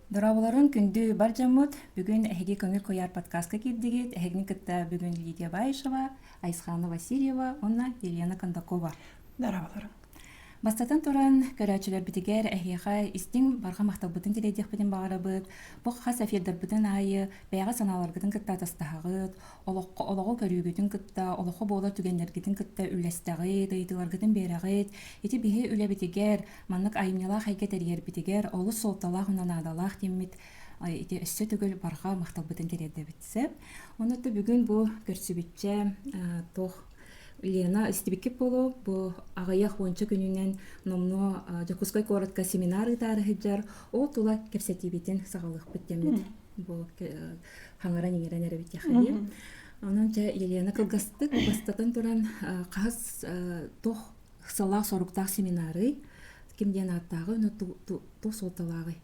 Дорооболорун күндү бар дьоммут! Бүгүн эһиги көҥүл куйаар подкаска киирдигит. Эһигини кытта бүгүн Лидия Баишева, Айсхана Васильева уонна Елена Кондакова. Дорооболорун. Бастатан туран, көрөөччүлэрбитигэр эһиэхэ истиҥ барҕа махталбытын тириэдиэхпитин баҕарабыт. Бу хас эфирдарбытын аайы бэйэҕэ санааларгытын кытта атастаһаҕыт, олоххо олоҕу көрүүгүтүн кытта олоххо буолар түгэннэргитин кытта үлэстэҕит ыйытыыларгытын биэрэҕит ити биһи үлэбитигэр маннык айымньылаах эйгэ тэрийэрбитигэр олус суолталаах мына наадалаах диэммит ити өссө төгүл барҕа махталбытын тириэрдэбит сөп онуота бүгүн бу көрсүбүччэ туох Лена истибиккит буолуо бу аҕыйах уонча күнүнэн номнуо Дьокуускай куоратка семинар ыытаары сылдьар ол тула кэпсэтиибитин саҕалыахпыт дэммит бу хаҥаран-иҥэрэн эрэбит яхайы онон дьэ елена кылгастык бастатан туран хас туох ыксалаах соруктаах семинарый ким диэн ааттааҕы ону туох суолталааҕый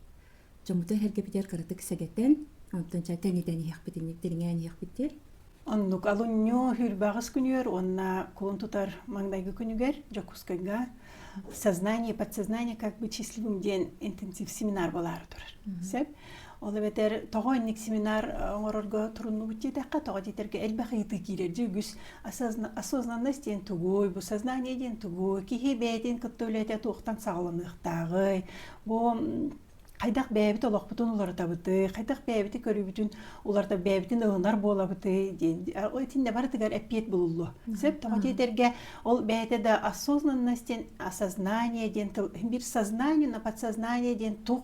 дьоммуту эһэргэбитигэр кыратык сэгэтэн онтон ча тэнитэн иһиэхпит инник дириҥээн иһиэхпит диэн оннук алунньу хүрбэҕис күнүгэр уонна кулун тутар маңдайгы күнүгэр дьокуускайга сознание подсознание как быть счастливым диэн интенсив семинар болаары турар сөп Ол эбэтэр тоҕо инник семинар оҥорорго туруннубут диэтэххэ, тоҕо диэтэргэ элбэх ыйытыы киирэр. Дьэ үгүс осознанность диэн тугуй, бу сознание диэн тугуй, киһи бэйэтин кытта үлэтэ туохтан саҕаланыахтааҕый, бу хайдах бэйэбит олохпутун уларытабытый, хайдах бэйэбити көрүүбүтүн уларыта бэйэбитин ылынар буолабытый диэн итиннэ барытыгар эппиэт булуллуо. Сөп тоҕо диэтэргэ ол бэйэтэ да осознанность диэн осознание диэн тыл бир сознание на подсознание диэн туох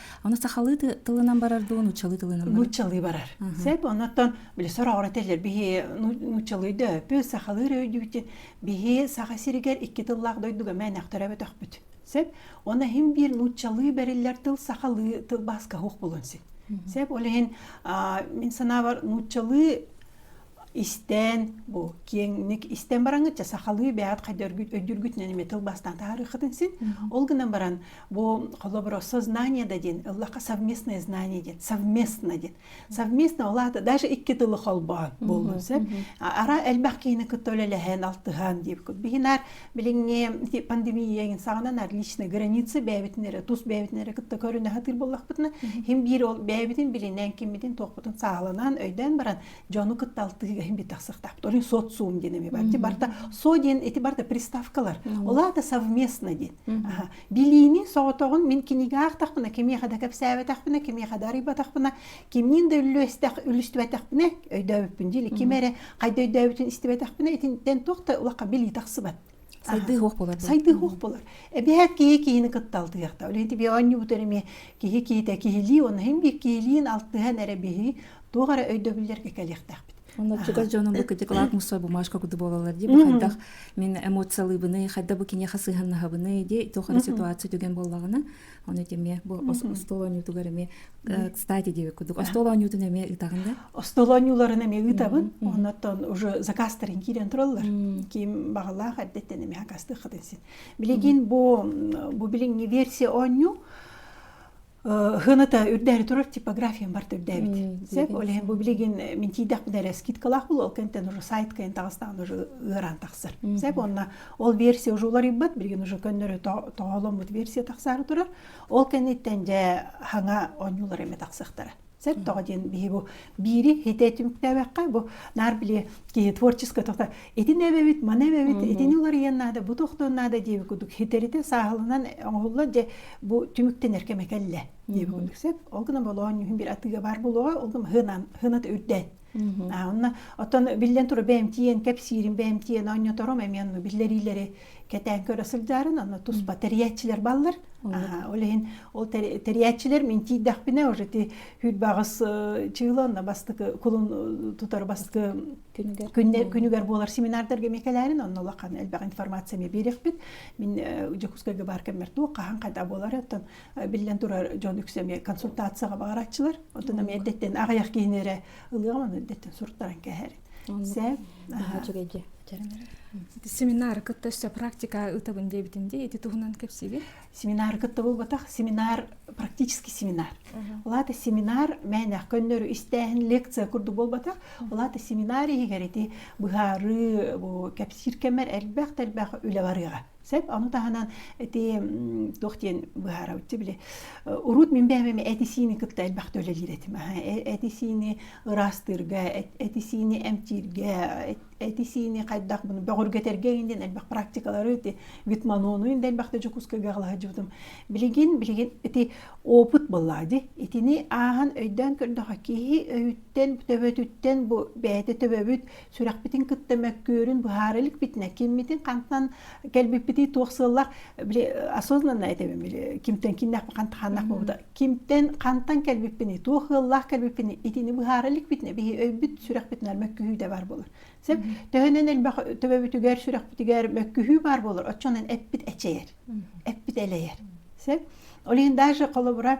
Оны сахалыы тылынан барар дуу, нуччалыы тылынан барар? Нуччалыы барар. Сеп, оннотон били сороҕорателер биһи нуччалыйда өппү, сахалыы өйдүүтин биһи саха сиригэр икки тыллаах дойдуга мээнэхтэрэ бөтөхпүт. Сеп, оны хим биир нуччалыы бэриллер тыл сахалыы тыл баска хух булун син. Сеп, олehen мин санаабар нуччалыы истээн бу киэҥник истэн бараҥытча сахалыы бэйэҕит хайдаргыт өйдүргүтүнэн эмиэ тыл бастаан таарыаххытын син ол гынан баран бу холобура сознание да диэн ыллахха совместное знание диэн совместно диэн совместно улаата даже икки тылы холбоон буолбун сөп ара элбэх киһини кытта үлэлэһэн алтыһан диэбит биһинаар билиҥҥи пандемия саҕанан личные границы бэйэбитин эрэ тус бэйэбитин эрэ кытта көрүнэ сатыыр буоллахпытына хим биир ол бэйэбитин билинэн киммитин туохпутун сааланан өйдөөн баран дьону кытта алтыһыыга иһин бүт тахсыахтаахпыт олорун социум диэн эми бар барта со диэн ити барта приставкалар олаата совместно диэн билиини соҕотоҕун мин кинигэ аахтахпына кимиэхэ да кэпсээбэтэхпинэ кимиэхэ да арыйбатахпына кимниин да үллүөстэх үлүстүбэтэхпинэ өйдөөбүппүн диили ким эрэ хайда өйдөөбүтүн истибэтэхпинэ итинтэн туох да улаха билии тахсыбат Сайдыы уох буолар. Сайдыы уох буолар. Эбиэт киһи киһини кытта алтыйахта. Үлэ ити би оонньуубут эрэми киһи киһитэ киһилии, онно хин би киһилиин алтыһан эрэ биһи туох эрэ өйдөбүллэргэ кэлиэхтээхпит. Онно чугас дьонум бу кытыкылаах мусор бумажка куду буолалар ди бу хайдах мен эмоциялыыбыны хайда бу киниэхэ сыһаннаһабыны ди тохара ситуация түгэн боллагына Оны эмиэ бу остуол оонньуутугар эмиэ кстати диэбит курдук остуол оонньуутун эмиэ ыытаҕын да остуол оонньууларын эмиэ ыытабын оннотон уже закастарын киирэн тураллар ким баҕалаах эрдэттэн эмиэ хакастыаххытын син билигин бу бу билиҥҥи версия оонньуу Хыныта үрдәре турар типографиям бар түрдәбит. Сек олehen бу билигин мин тийдәк дәрә скидкалаах бұл ол кентен уже сайт кентағыстан уже ыыран тақсыр. Сек онна Ол версия уже уларыйбат, билигин уже көннөрү тоҕоломмут версия тахсаары турар. Ол кэнниттэн дьэ хаҥа оонньуулар эме тахсыахтара. Сөп тоҕо диэн биһи бу биири хите түмүктээбэххэ бу наар били киһи творчество тота итин эбэбит маны эбэбит итини уларыйан наада бу тохтон наада диэби кудук хитерите сааһылынан оҥоһулла дьэ бу түмүктэнэр кэме кэллэ диэби кудук сөп ол гына болоон нүһүн бир атыыга баар болуоҕа ол гына хынаната үрдээн Онно оттон биллэн тура бээмтиэн, кэпсиирин бээмтиэн оонньоторум эми онну биллэриилэри кэтээн көрө сылдьарын онно туспа тэрийээччилэр баллар. Ол иһин ол тэрийээччилэр мин тиийдэхпинэ уже ти хүрбаҕыс чыыла онно бастакы кулун тутар бастакы күнүгэр буолар семинардарга мекелерин онно улахан элбэх информация ми берехпит. Мин Дьокуускайга бар кэммэр туох хаһан хайда болар оттон Биллэн турар дьон үксэ эмиэ консультацияҕа баҕараччылар. Оттон эмиэ эрдэттэн аҕыйах киһини эрэ ылыаҕын эрдэттэн суруттаран кэһэрин. Сэ наһаа үчүгэй дии. Семинары кытта өссө практика ытабын диэбитим дии. Ити туһунан кэпсиигин. Семинары кытта буолбатах. Семинар практический семинар. Улаата семинар мээнэх көннөрү истээһин лекция курдук буолбатах. Улаата семинар иһигэр ити быһаарыы бу кэпсиир кэмэр элбэх-элбэх үлэ барыаҕа. Сөп, ону таһынан ити туох диэн быһаарабытчы били урут мин бэйэм эти-сиини кытта элбэх төлөлүүр этим. Эти-сиини ыраастыырга, эти-сиини эмтииргэ, эти-сиини хайдах бөҕүргэтэргэ иһин диэн элбэх практикалары ити витманону иһин элбэхтэ Дьокуускайга аҕалаһыдьыбытым. Билигин билигин ити опыт булла ди. Итини ааһан өйдөөн көрдөхө киһи өйүттэн, төбөтүттэн бу бэйэтэ төбөбүт сүрэхпитин кытта мөккүөрүн быһаара иликпитинэ киммитин хантан кэлбиппитий туох сыаллах били осознанно этэбин били кимтэн киннэхпи хантаханнах буолбута кимтэн хантан кэлбиппиний туох ыаллаах кэлбиппиний итини быһаара иликпитинэ биһи өйбүт сүрэхпитинэн мөккүһүү бар болор сеп төһөнөн элбэх төбөбүтүгэр сүрэхпитигэр мөккүһүү бар болор оччонон эппит эчэйэр эппит элэйэр сеп олин даже холобура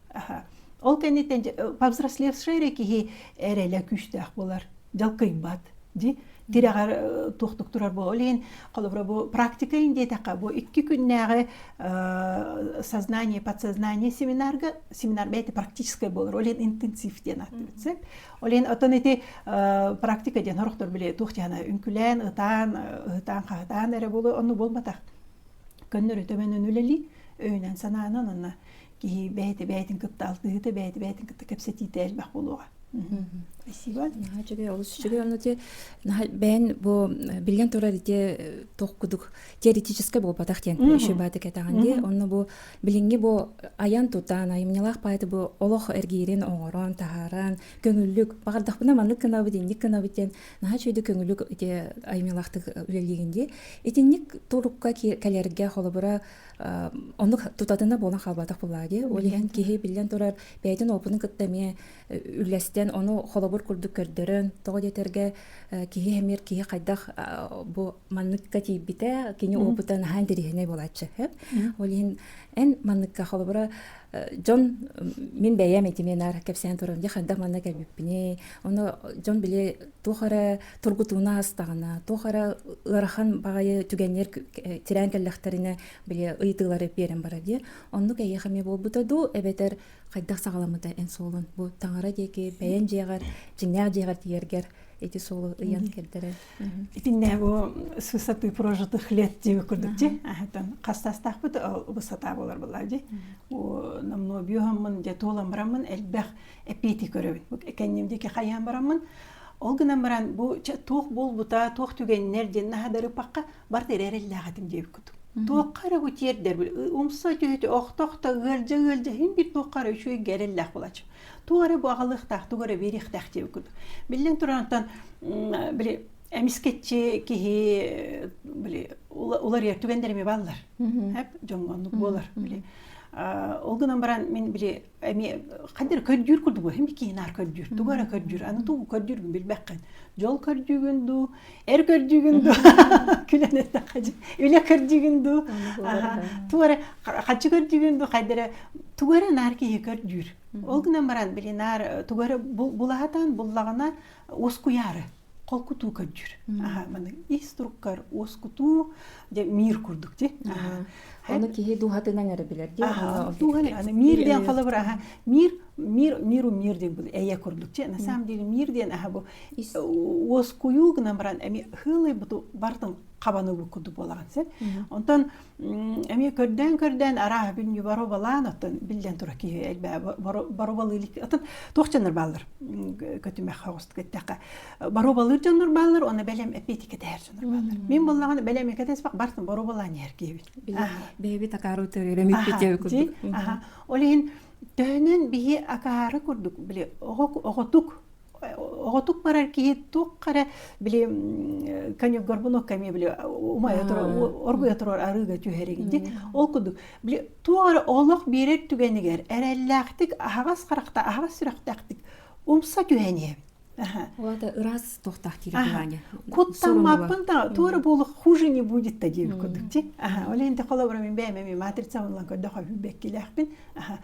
Ол кэнниттэн повзрослевшай эрэ киһи эрэлэ күүстээх буолар, дьалкыйбат. Ди тирэҕэр туохтук турар бу олейн холобура бу практика диэтэххэ бу икки күннээҕи сознание подсознание семинарга семинар бэйэтэ практическай болор олен интенсив диэн ааттыыт олен отон ити практика диэн хорохтор биле туох тиһана үҥкүлээн ытаан ытаан хаатаан эрэ болу онну болбатах көннөрү төбөнөн үлели өйүнэн санаанан анна киһи бэйэтэ бэйэтин кытта алтыһыыта бэйэтэ бэйэтин кытта кэпсэтиитэ элбэх буолуоҕа спасибо үчүгэй олус үчүгэй онно те бэйэн бу билген турар ите тох кудук теоретический буопатах тен еще баты кетаган де онно бу билинги бу аян тутан айымнялах пайты бу олох эргирин оңорон таһаран көңүллүк бардахпына маннык кынабыт инник кынабыт тен наха чөйдө көңүллүк ите айымнялахтык үлелегенде итинник турукка кэлерге холобура Оннук тутатына буолан хаалбатах былааги. Ол иһэн киһи биллэн турар бэйэтин опытын кытта эмиэ үллэстэн, ону холобур курдук көрдөрөн, тоҕо диэтэргэ киһи эмиэр киһи хайдах бу манныкка тиийбитэ, кини опыта наһаа интэриэһинэй буолааччы. Ол иһин эн манныкка холобура дьон мин бэйэм этимиэн аар кэпсээн туран дьэ хайдах манна кэлбиппиний, ону дьон били туох эрэ тургутууна астаҕына туох эрэ ыарахан баҕайы түгэннэр тирээн кэллэхтэринэ били ыйытыылары биэрэн барар диye оннук эйиэхэ эмиэ буолбута дуу эбэтэр хайдах саҕаламмыта эн суолун бу таҥара диэки бэйэн дьиэҕэр дьиҥнээх дьиэҕэр тиийэргэр ити суолу ыйан кэлдэрэн итиннэ бу сысатыы прожитых лет диег курдук ти ахтан хастастахпыт бу сата болар была ди намно биохаммын дя туоламбараммын элбэх эпити көрөбүн экенним дики хаян бараммын Ол гынан баран бу туох буолбута, туох түгэннэр диэн наһаа да ырыпахха барыта эрэ эрэллээх этим диэбиккут. Туохха эрэ бу тиэрдэрбит умса түһүтэ охто-охто ыалдьа ыалдьа иһин бит туохха эрэ үчүгэйгэ эрэллээх буолаччы. Туох эрэ бу аҕалыахтаах, тугу эрэ биэриэхтээх диэбиккут. Биллэн турарыттан били эмискэччи киһи били уларыйар түгэннэр эмиэ бааллар. Дьоҥҥо оннук буолар. Били ол гынан баран мин били эмиэ хайдары көрдүүр курдук эми киинаар көрдүүр тугу эрэ көрдүүр аны тугу көрдүүргүн билбэххин дьол көрдүүгүн дуу эр көрдүүгүн дуу күлэн эттэххэ үлэ көрдүүгүн дуу тугу эрэ хаччы көрдүүгүн дуу хайдары тугу эрэ наар киһи көрдүүр ол гынан баран били наар тугу эрэ булаһатан буллаҕына ускуйаары холкутуу көрдүр маны ис туруккар уоскутуу дьэ мир курдук ти оны киһи дууһатынан эрэ билэр ди аны мир диэн холобур аха мир мир миру мир диэн бұл эйе курдук ти на самом деле мир диэн аха бу уоскуйуу гынан баран эми хылый буту бартын кабаны бу курдук болаган сен онтон Эмиэ көрдөөн-көрдөөн арааһа бин боробалаан оттон биллэн тура киһи элбээ боробалы илик отон туох дьоннор бааллар көтүмэх хоҕуст кеттэхэ боробалыыр дьоннор бааллар оны бэлэм эппиэтикэ тэһэр дьоннор бааллар мин буллаҕына бэлэм экетеспак барсын боробалаан иһэргиэбит бэйэбит акаару төөрө миппитиэ курдук ол иһин төһөнөн биһи акаары курдук били оҕотук оҕотук барар киһи туох эрэ били коньюгорбун окко эмиэ били умайа турар оргуйа турар арыыга түһэрин ди ол курдук били туох эрэ олох биэрэр түгэнигэр эрэллээхтик аһаҕас харахта аһаҕас сүрэхтээхтик умса түһэн иһэбит Уата ырас тохтах тирикваня. Куттаммаппын та туора болук хуже не будет та диэбит курдук ти. Аха, ол енді холобура мен бэйэм эми матрица онлан көрдөхө бүбеккилээхпин. Аха,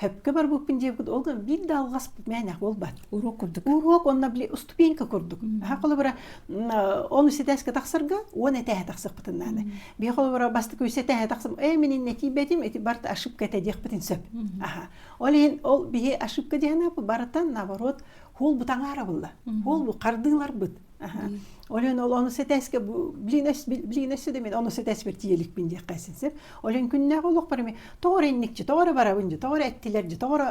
Хөпкө барбыппын диэбит, ол да биир да алҕаспыт мээнэх буолбат. Уруок курдук. Уруок онно били уступиенка курдук. Баха холобура он ситээскэ тахсарга уон этээһэ тахсыахпытын наада. Бия холобура бастакы үс этээһэ тахсым, э мин инне тиийбэтим, эти барт ошибка этэ диэхпитин сөп. Аха. Ол иһин ол биһи ошибка диэн барытан наоборот, хул бутаҥаара булла. Хул бу хардыыларбыт. Олен ол ону сэтээске блинес блинессе де мен ону сэтээсбер тиеликпин диэххэсин сир олен күннээх олохпарами тоҕор инникчи тоҕор барабын дьи тоҕор эттилер дьи тоҕор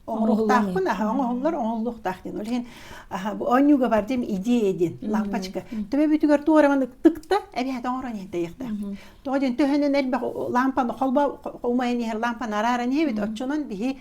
оңрухтаахпын аха оҥоһуллар оҥоһуллуохтаах диэн ол иһин аха бу оонньууга бар дим идея диэн лааппачка төбө бүтүгэр туораман ытыкта эбиһэт оҥорон иһин тэйиэхтээх тоҕо диэн төһөнөн элбэх лаампаны холбо умайан иһэр лаампаны арааран иһэбит оччонон биһи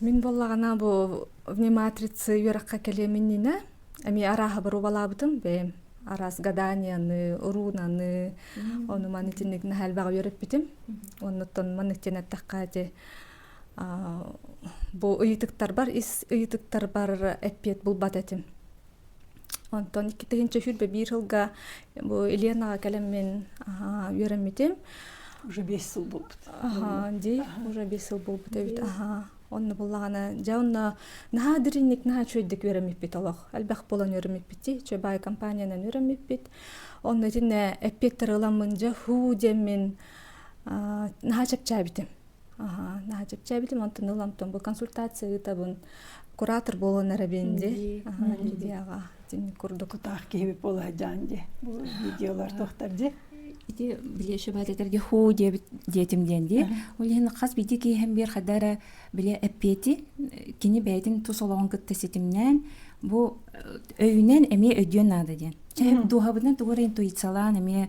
Мин боллагана бу вниматрицы үөраққа кэлеминнине эми араахыбар убалаабытым бэйэм араас гаданияны, уруунаны, ону маны итинник наһаалбаҕа үөрэппитим. Оннуттан маны итиэн эттэххэ ити бу ыйытыктарбар ис ыйытыктарбар эппиэт булбат этим. Онтон иккитигинчи сүүрбэ биир сылга бу Ленаҕа кэлэммин үөрэммитим. Уже бес сыл буолбут. Аха, дии, уже бес сыл буолбут эбит. Аха, онно буллаҕына, дьэ онно наһаа дириҥник, наһаа үчүгэйдик үөрэммиппит олох. Элбэх буолан үөрэммиппит, чэ баай компаниянан үөрэммиппит. Онно итиннэ эппиэттэр ыламмын, дьэ һуу диэммин наһаа чэпчээбитим. чэпчээбитим онтон ыламтон бу консультация ыытабын куратор буолан эрэбин ди Лидияҕа итини курдук тутаах киһи буола дьаан ди бу видеолар тохтар ди ити биле шөбәт этерге ху диэбит диэтим диэн ди ол иһин хас бити киэһэн биэр хадара биле эппиэти кини бэйэтин тус олоҕун кытта ситимнээн бу өйүнэн эмиэ өйдүөн наада диэн дууһабытынан тугура интуициялаан эмиэ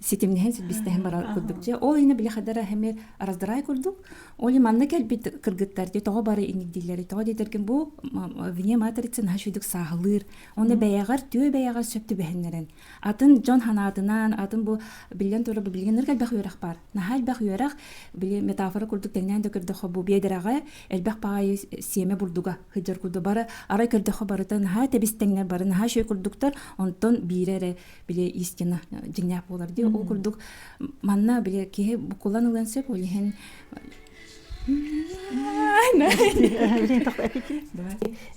ситимнэһэн силбистэһэн барар курдук дьэ ол иһинэ били хадара эмир раздырай курдук ол манна кэлбит кыргыттар дии тоҕо бары иникдииллэри тоҕо диэтэргин бу вне матрица наһаа үчүгдүк сааһылыыр оны бэйэҕэр түө бэйэҕэр сөп түбэһиннэрэн атын дьон санаатынан атын бу биллэн турар билигин ырк элбэх үөрэх бар наһаа элбэх үөрэх били метафора курдук тэннээн да көрдөхө бу биэдэрэҕэ элбэх баайы сиэмэ бурдуга сыдьар курдук бары арай көрдөхө барыта наһаа тэбистеңнэр бары наһаа шөй курдуктар онтон биирэ эрэ били истина дьиҥнээх буолар дии ол курдук манна били киһи букулан ылыан сөп ол иһин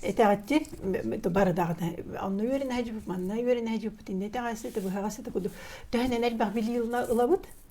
Этэҕитчи бардаҕына онно үөрэнэ хажуппут манна үөрэнэ хажуппут инде этэҕэсэ ты быһаҕасы ты куду төһөнөн элбэх били ылабыт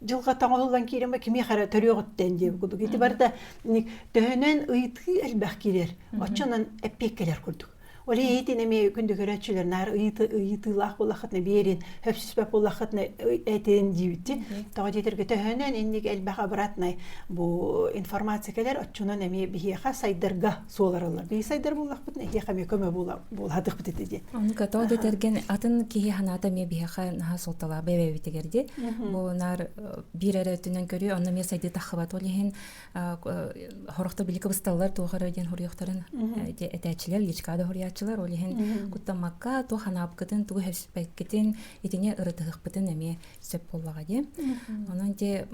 дьылҕа таҥылыллан киирэн кимиэх эрэ төрүөҕүттэн диэн курдук ити барыта төһөнөн ыйытыы элбэх киирэр оччонон эппиэккэлэр курдук ол иһитин эмиэ күндү көрөөччүлэр наар ыйытыылаах булаххытына биэрин хөпсүпэп булаххытына этин диибитин тоҕо диэтэргэ төһөнөн инник элбэх обратнай бу информация кэлэр оччонон эмиэ биһиэхэ сайдарга суоларылар бейсайдар буллахпыт эһиэхэ эмиэ көмө булаатыхпыт ити диэн ону катоо дэтэрген атын киһи ханаата эмиэ биһиэхэ наһаа суолталаабай эбэбитигэр ди бу наар биир эрэ өттүнэн көрүү онно эмиэ сайды таххыбат ол иһин хорохто билики бысталлар туох эрэ диэн хуруйуохтарын этээччилэр личкада хуруйааччылар ол иһин куттаммакка туох ханаапкытын тугу херсиппеккитин итини ырытыһыкпытын эмиэ сөп буоллаҕа дии онон дии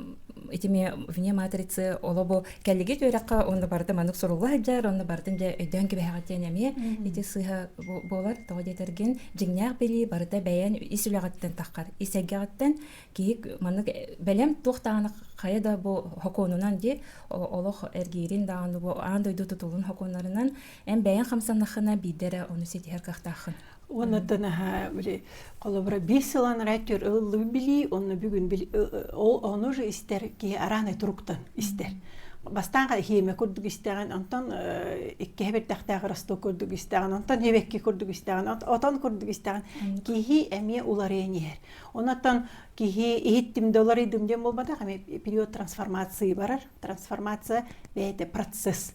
итими вне матрицы олобу кэллиги түөрэххэ онно барда манык сурулла сылдьар онно бартын дьэ өйдөөн кэбиһэҕит диэн эмиэ ити сыыһа буолар тоҕо диэтэргин дьиҥнээх билии барыта бэйэн ис үлэҕиттэн таххар ис эйгэҕиттэн киһи маннык бэлэм туох даҕаны хайа да бу хокуонунан дии олох эргиирин даҕаны бу аан дойду тутулун хокуоннарынан эн бэйэҥ хамсаннаххына биирдэ эрэ ону ситиһэр кыахтааххын Оннотон аха били холобура биир сылан райтер ыллыы билии, онно бүгүн били ону же истэр киһи арааны туруктан истэр. Бастаанга хиэме курдук истэҕин, онтон иккиһэ бэртэхтээх росток курдук истэҕин, онтон ебекки курдук истэҕин, отон курдук истэҕин киһи эмиэ уларыйан иһэр. Онотон киһи иһиттим да уларыйдым диэн буолбатах, эмиэ период трансформации барар. Трансформация бэйэтэ процесс.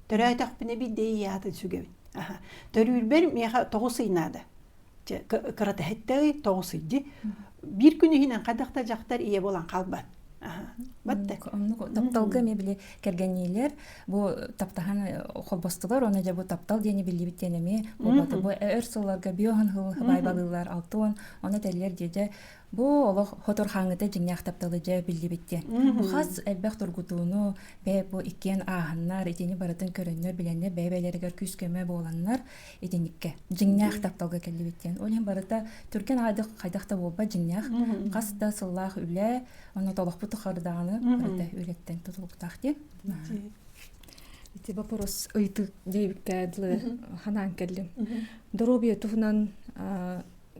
Төрөөтөхпүнэ биирдэ атын сүгэбин. Төрүүрбэр миэхэ тоҕус ый наада. Кыратыһыттый тоҕус ыйди. Биир күн иһинэн хайдах да дьахтар ийэ болан халбан. тапталга эмиэ били кэргэниилэр бу таптаһан холбостулар оны же бу таптал диэни биллибит диэн эмиэ буолбата бу өр сылларга биоһын хыл байбалыылар алты он оны тэллер дьэдэ Бу олох хотор хааҥыта дьиҥнээх тапталы дьэ биллибит диэн. Бу хас элбэх тургутууну, бэйэ бу иккиэн ааһаннар, итини барытын көрөннөр, билэннэр, бэйэ-бэйэлэригэр күүс-көмө буоланнар, итинникке дьиҥнээх тапталга кэллибит диэн. Ол иһин барыта түргэн хайдах хайдах да буолбат дьиҥнээх. Хас да сыллаах үлэ, онно толохпут тухары даҕаны барыта үлэттэн тутулуктаах диэн. Ити вопрос ыйытык диэбиккэ дылы ханаан кэллим. Доруобуйа туһунан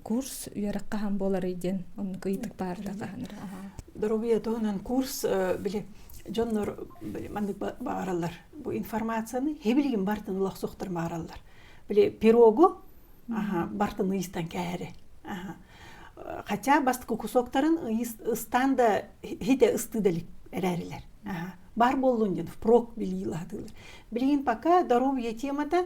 курс үөрэх хаһан буоларый диэн оннук ыйытык баарда хаһанар доруобуйа туһунан курс били дьоннор маннык бааралар бу информацияны хебилигин бартын улахсохтор баараллар били пирогу бартын ыйыстан кээри хотя бастык кусоктарын ыстан да хите ысты да эрәрилер бар боллун диэн впрок билиилаатылар билигин пока доруобуйа темата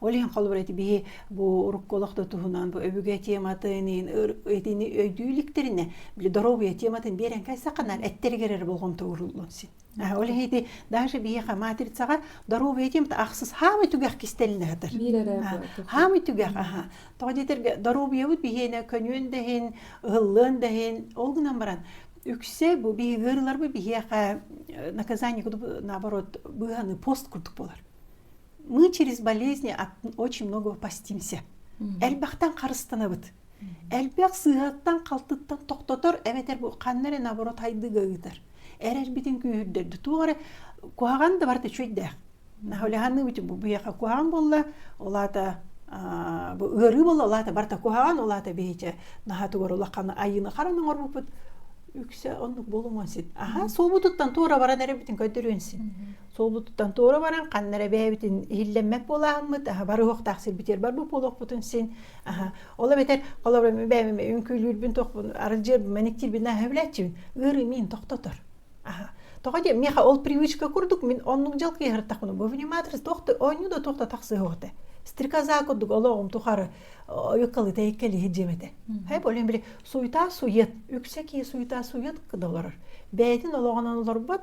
Ол иһин холобур ити биһи бу урукку олох да туһунан бу өбүгэ тематын итини өйдүү иликтиринэ били доруобуйа тематын биэрэн кайсаканар эттергер эрэ болҕомто ууруллун син ол иһи ити даже биһиэхэ матрицаҕа доруобуйа темата ахсыс хаамай түгэх кистелинэ жатар хаамай түгэх аха тоҕо диэтерге доруобуйабыт биһиэнэ көнүөн дэһин ыһыллыан дэһин ол гынан баран үксе бу биһиги ырларбы биһиэхэ наказание наоборот быһаны пост курдук болар мы через болезни очень много постимся элбэхтэн харыстанабыт элбэх сыыһаттан халтыттан тохтотор эбэтэр бу ханна эрэ наоборот хайдыга ыытар эрэрбитин күүһүрдэрди туох эрэ куһаҕан да барыта үчүгэйдээх наһулиханныбыт бу биһиэхэ куһаҕан буолла ол аата бу ыарыы буолла ол аата барыта куһаҕан ол аата биһичэ наһатыгар улахана айыыны харан оҥорбуппут үксэ оннук болумуон син аха суобутуттан туора баран эрэрбитин көрдөрүөн син суолутуттан туора баран ханна эрэ бэйэбитин иһиллэммэт буолааммыт аһа бар уһуктаах сир битиэр бар бу буолуохпутун син аха ол эбэтэр олорор бэйэм үҥкүүлүүрбүн тохпун арылдьыырбын мэниктиирбин аһа билээччибин ыарыы миин тохтотор аха тоҕо диэм миэхэ ол привычка курдук мин оннук дьалкыйһартахпына бу вниматор туох да оонньуу да туох да тахсыһыоҕа стрекоза курдук олоҕум тухары юккалы тэйиккэли иһирдьиэмэтэ хай болен били суйта сует үксэ кии суйта сует кыда олорор бэйэтин олоҕунан олорбот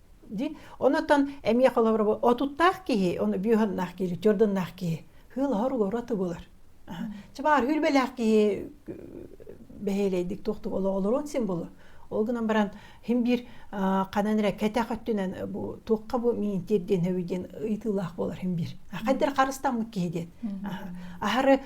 Ди онотон эмиэ холобура отуттаах киһи, оны бүһаннаах киһи, тёрдыннаах киһи хыылаһар угора тыбылар. Чыбаар хүлбэлээх киһи бэһиэлэйдик туохтук олоҕолорун символу. Ол гынан баран хин биир ханан эрэ кэтэх өттүнэн бу туохха бу миниитир диэн өбү диэн ыйытыылаах болар хин биир. Хайдар харыстаммыт киһи диэн. Аһары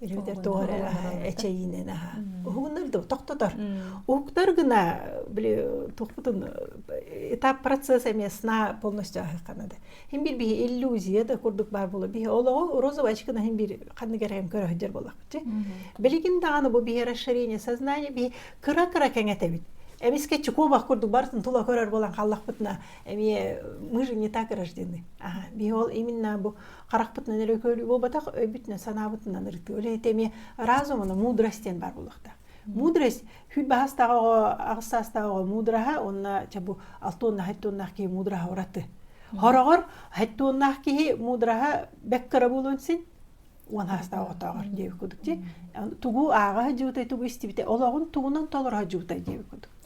эбэтэр тоҕо эрэ эчэйиинэн аха уһугуннар да тохтотор уһуктар гына били тохпутун этап процесс эмиэ сна полностью ахаханада хин бир биһи иллюзия да курдук бар боло биһи олого розовый очкына хин бир ханныгар эм көрөһдөр болакчы билигин даганы бу биһи расширение сознания биһи кыра кыра кеңетебит эмискэ чукобах курдук бартын тула көрөр болан халлахпытына эми мы же не так рождены аха биһи ол именно бу харахпытынан эрэ көрүү буолбатах өйбүтүнэн санаабытынан ырытыы үлэһит эмиэ разумына мудрость диэн баар буолуохтаах мудрость хүл баһастааҕы оҕо аҕыс саастааҕы оҕо мудраһа уонна ча бу алтуонна хаттуоннаах киһи мудраһа ураты хороҕор хаттуоннаах киһи мудраһа бэк кыра буолуон син уон саастаах отоогор диэбит кудук ти тугу ааҕа жутай тугу истибите олоҕун тугунан толоро жутай диэбит кудук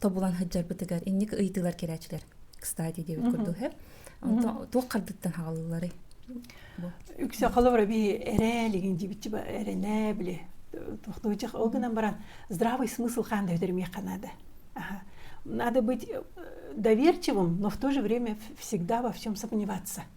тобулан сылдьарбытыгар инник ыйытыылар кэлээччилэр кстати диэбит курдук э онтон туох хардыттан хаалыллары үксэ холобура би эрэлигин дибитчи эренэ биле тохтуучах ол гынан баран здравый смысл ханды өдермехка надо надо быть доверчивым но в то же время всегда во всем сомневаться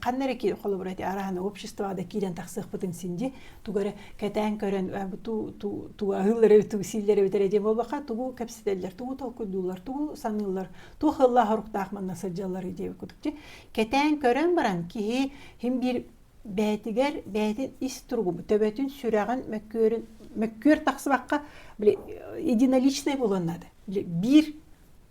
ханна эрэ холобура ити араһан обществода киирэн тахсыахпытын синди тугу эрэ кэтээн көрөн ту аһыыллары ту силлэри бүтэрэ диэн буолбаха тугу кэпсэтэллэр тугу толкуйдууллар тугу саныыллар туох ыллаах хоруктаах манна сылдьаллары диэбит кутукчи кэтээн көрөн баран киһи хим биир бээтигэр бээтин ис туругу төбөтүн сүрэҕин мөккүөрүн мөккүөр тахсыбакка били единоличнай буланнады били биир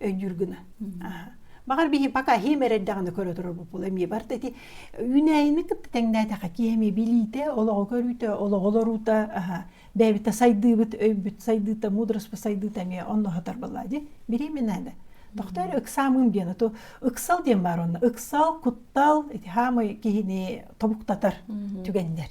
өйдүүр гына баҕар биһи пока иһим эрэрдэҕинэ көрө турарбыт була эмиэ барта ити үүнээйини кытта тэҥнээтэххэ киһи билиитэ олоҕу көрүүтэ олоҕу олоруута бэйэбитэ сайдыыбыт өйбүт сайдыыта мудроство сайдыыта эмиэ онно хатарбалаа ди беременнада тохтоор ыксаамын диэн то ыксал диэн баар онно ыксал куттал ити хаамай киһини тобуктатар түгэннэр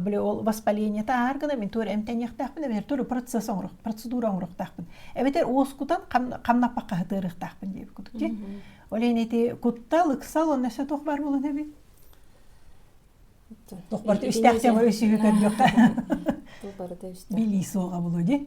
били ол воспалениета аар гына мин туора эмтэниэхтээхпин эбэтэр туора процесс оҥоруох процедура оҥоруохтаахпын эбэтэр уоскутан ханнаппакка сытыарыахтаахпын диэбит курдук дии ол иһин ити куттал ыксал онно өссө туох баар буолан эбит туох барыта үстээх тема үсүһү көрдүөххэ туох барыта үстээх билии суоҕа булу ди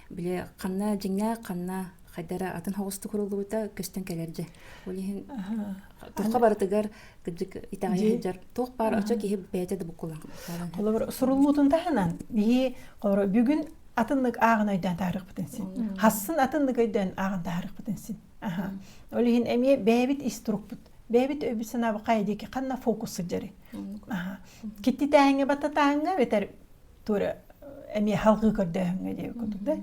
Били ханна дьиҥнээх ханна хайдара атын хоҕустук уруллубута көстөн кэлэр дьэ. Ол иһин тухха барытыгар кырдьык итэҕэйэ сылдьар туох баар очо киһи бэйэтэ да буккулаах. Холобур суруллуутун таһынан биһи бүгүн атыннык ааҕын өйдөөн таарыхпытын син. Хассын атыннык өйдөөн ааҕын таарыхпытын син. Аха. Ол иһин эмиэ бэйэбит ис турукпут. Бэйэбит өйбүт санаабыт хайа диэки ханна фокус сылдьары. Аха. Китти тааһыҥҥа бата тааһыҥҥа бэтэр Торе эмиэ халгыы көрдөөһүҥҥэ диэбит курдук да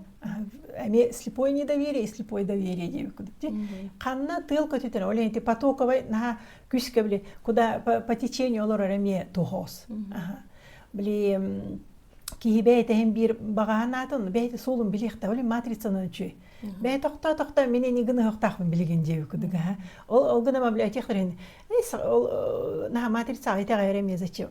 эмиэ слепое недоверие и слепое доверие диэбит курдук ти ханна тыал көтүтэр ол эти потоковай наха күскэ били куда по течению олорор эмиэ тоһоос били киһи бэйтэһин биир баҕаһан аатын бэйти суолун билиэхтэ оле матрицанан үчүй бэйэ тохто тохто мен эни гына хохтаахпын билигин диэбит курдук ол ол гына библиотекторин ол наха матрица айта айре мне зачем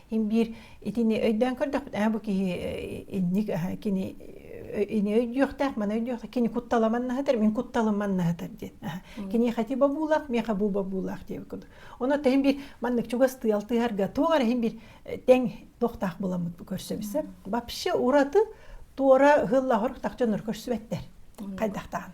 Ин биир итини өйдөөн көрдөхпүт, ээ, бу киһи инник кини ини өйдүөхтээх, маны өйдүөх, кини кутталаман наһатар, мин кутталаман наһатар диэн. Кини хати бобуулаах, миэхэ бу бобуулаах диэбит курдук. Ону тыһын биир маннык чугас тыал тыһарга туох эрэ хин биир тэҥ тохтаах буламмыт бу көрсөбүсэ. Вообще ураты туора хыллаһор тахчаныр көрсүбэттэр. Хайдахтаан.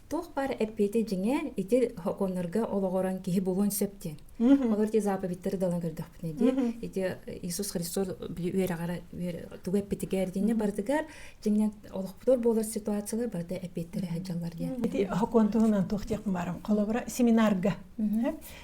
Туох баар эппиэти дьиҥэр ити сокуоннарга олоҕуран киһи булуон сөп диэн. Олор ити заповедьтары далан көрдөхпүтүнэ дии. Ити Иисус Христос били үөрэҕэр тугу эппитигэр диэнне барытыгар дьиҥнэн олохпутур буолар ситуациялар барыта эппиэттэри сылдьаллар диэн. Ити сокуон туһунан туох диэх баарым. Холобура семинарга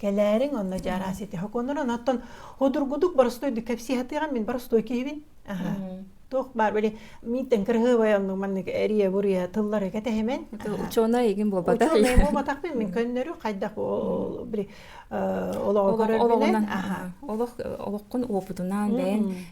Кэлээриҥ онно дьаараа ситиһэ куонуран оттон одургудук боростой да кэпсиһатыган мин боростой киһибин аха туох баар били миттен кырыһыбай онну маннык эрие буруя тыллары кэтэһимэн учуонай игин буолбатах учуонай буолбатах мин мин көннөрү хайдах ол били олоҕу көрөрбүнэн аха олох олоххун опытунаан бэйэн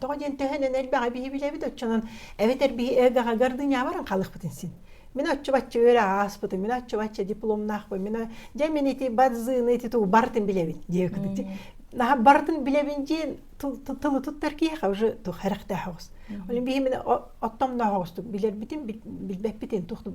тоҕо диэн төһөнөн элбэҕи биһи билэбит оччонон эбэтэр биһи элбэҕи гордынябаран халыхпытын син мин оччубачча үөрэ ааспытым мин оччубачча дипломнаахпын мин дьэ мин ити бадзыыны ити туу барытын билэбин диэ кытыты наха барытын билэбин диэн тылы туттар киһиэхэ уже тух харахтаахоҕус олин биһи мин оттомноохоҕустук билэрбитин билбэппитин тухтук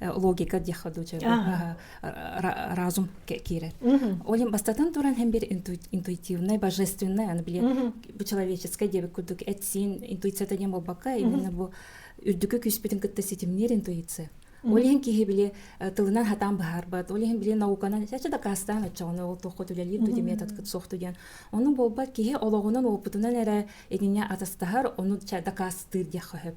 логика диэххэ дуу разум киирэр ол им бастатан туран һәм бир интуитивнай божественный аны биле бу человеческай диэбит курдук этсин интуицията диэн болбакка именно бу үрдүкү күүспүтүн кытта ситимниир интуиция ол иһин киһи били тылынан хатаан быһаарбат ол иһин били науканан чачы дакаастаан оччоҕуна ол туохха үлэлиир ду методкыт суох ду диэн ону буолбат киһи олоҕунан опытынан эрэ итине атастаһар ону дакаастыыр диэххэ сөп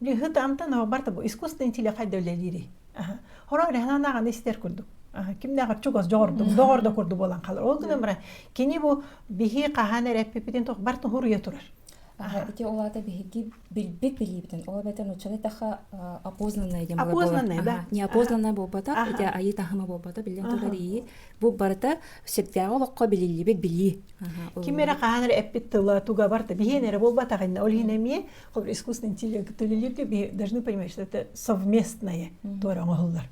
Лүһүт амтан оҕабарта бу искусственный интеллект хайда үлэлиири. Хороо реханааҕаны истэр курдук. Кимнэҕэр чугас дьоҕурдук, доҕордо курдук буолан халар. Ол гынан баран кини бу биһи хаһаан эрэ эппиппитин туох бар туһуруйа турар. Ити ол аата биһиги билбит билиибитин, ол эбэтэр нуччалыы таха опознанное диэн опознанное да неопознанное буолбатах ити айыы таһыма буолбата билэн турар ии бу барыта сирдээҕи олоххо билиллибит билии ким эрэ хаһан эрэ эппит тыла тугабар да биһиэн эрэ буолбатаҕынна ол иһин эмиэ искусственный интеллект төлүүлэргэ должны понимать что это совместное туора оҥоһуллар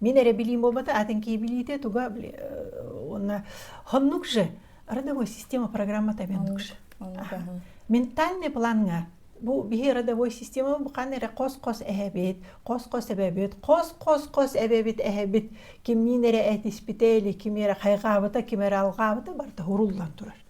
мин эрэ билиим буолбата атын киһи билиите туга уонна хоннук же родовой система программата бендукше ментальный планга бу биһи родовой система буқан эрэ қос-қос эһэбит қос-қос эбэбит қос-қос-қос эбэбит эһэбит кимниин эрэ этиспите или ким эрэ хайҕаабыта ким эрэ алҕаабыта барыта хуруллан турар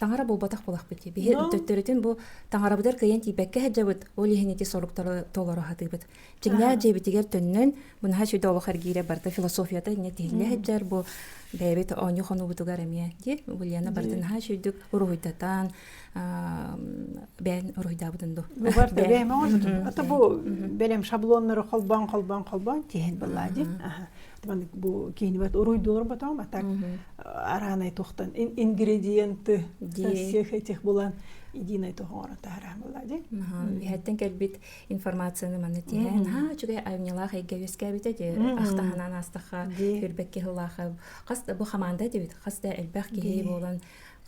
таҥара буолбатах буолахпыт дии биһи төттөрүтүн бу таҥарабытыгар кыйан тиийбэккэ сылдьабыт ол иһин ити соруктары толоро сатыыбыт чиҥнээх дьиэбитигэр төннөн мунаһа сүдэ олох эргиирэ барыта философията инньэ тиһиннэ сылдьар бу бэйэбит оонньуу хонуубутугар эмиэ дии Ульяна барды наһаа сүйдүк уруһуйдатан бэйэн уруһуйдаабытын ду бар ото бу бэлэм шаблоннары холбоон холбоон холбоон тиһин былаа ди маннык бу киинибэт уруйдуурбатом атак араанай тухтан ингредиенты всех этих булан идиинай тоһоҥоро тахараан була ди иһэттен кэлбит информацияны манны тиһэ наһаа үчүгэй айымньылаах эйгэ үөскээбитэ ди ахтаханан астаха үрбэкки хылаха хас бу хамаанда дибит хас да элбэх киһи буолан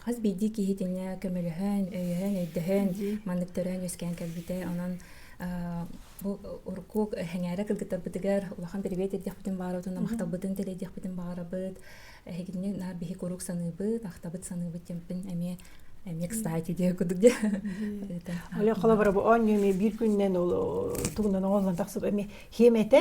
хас биирдии киһитинэ көмөлөһөн өйөһөн өйдөһөн маннык төрөөн үөскээн кэлбитэ онон бу урукку сэҥээрэ кыргыттарбытыгар улахан приветь эрдиэхпитин баарыбытын махталбытын тэлэйдиэхпитин баҕарабыт эһигини наар биһи куруук саныыбыт ахтабыт саныыбыт тэмпин эмиэ эмиэ кстати диэ курдук дии оле холобура бу оон ньүмэ биир күннэн ол тугунан оҥоллон тахсып эмиэ хиэмэтэ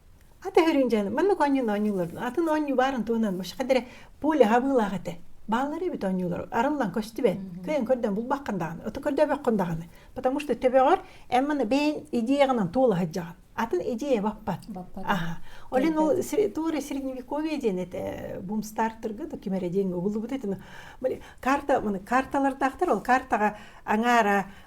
Ата хөрүн дьаны маннык оонньуулар оонньуулар атын оонньуу баарын туһунан мушаха дэрэ пуля хабыылаах этэ бааллар эбит оонньуулар арыллан көстүбэт кыйын көрдөн булбаккан даҕаны ото көрдөбөккөн даҕаны потому что төбөҕөр эн маны бэйин идеяҕынан туола сылдьаҕын атын идея баппат аха олин ол туора средневековье диэн этэ бумстартырга да ким эрэ диэн убуллубут этэ карта карталардаахтар ол картаҕа аҥаара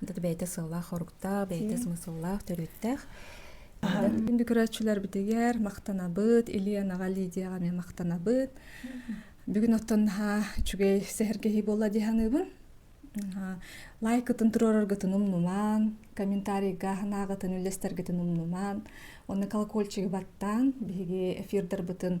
бэйэтэ сыллаах-хоруктаах, бэйэтэ смысллаах, төрүттээх. Күндү көрөөччүлэрбитигэр махтанабыт, Ильянаҕа, Лидияҕа эмиэ махтанабыт. Бүгүн оттон наһаа үчүгэй сэһэргэһии буолла дии саныыбын. лайкытын туруораргытын умнумаан, комментарийга санааҕытын, үллэстэргитин умнумаан, оны колокольчигы баттаан, биһиги эфирдарбытын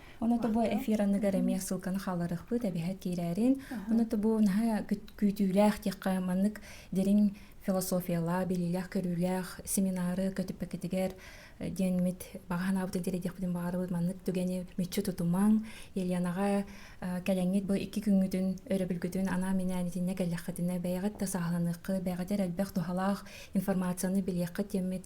Оны тобу эфир аныгар эмиэ ссылканы хааларыхпыт эбэһэт киирээрин. Оны тобу наһа күүтүүлээх диэххэ маннык дириҥ философиялаах, билиилээх, көрүүлээх семинары көтүппэкитигэр диэн мит баҕаһанаабыт диэриэдиэхпитин баҕарыбыт маннык түгэни мүччү тутумаҥ. Еленаҕа кэлэҥҥит бу икки күҥҥүтүн өрөбүлгүтүн анаа минээнитиннэ кэллэххитинэ бэйэҕит да сааһыланыаххыт, бэйэҕитэр элбэх туһалаах информацияны билиэххит диэммит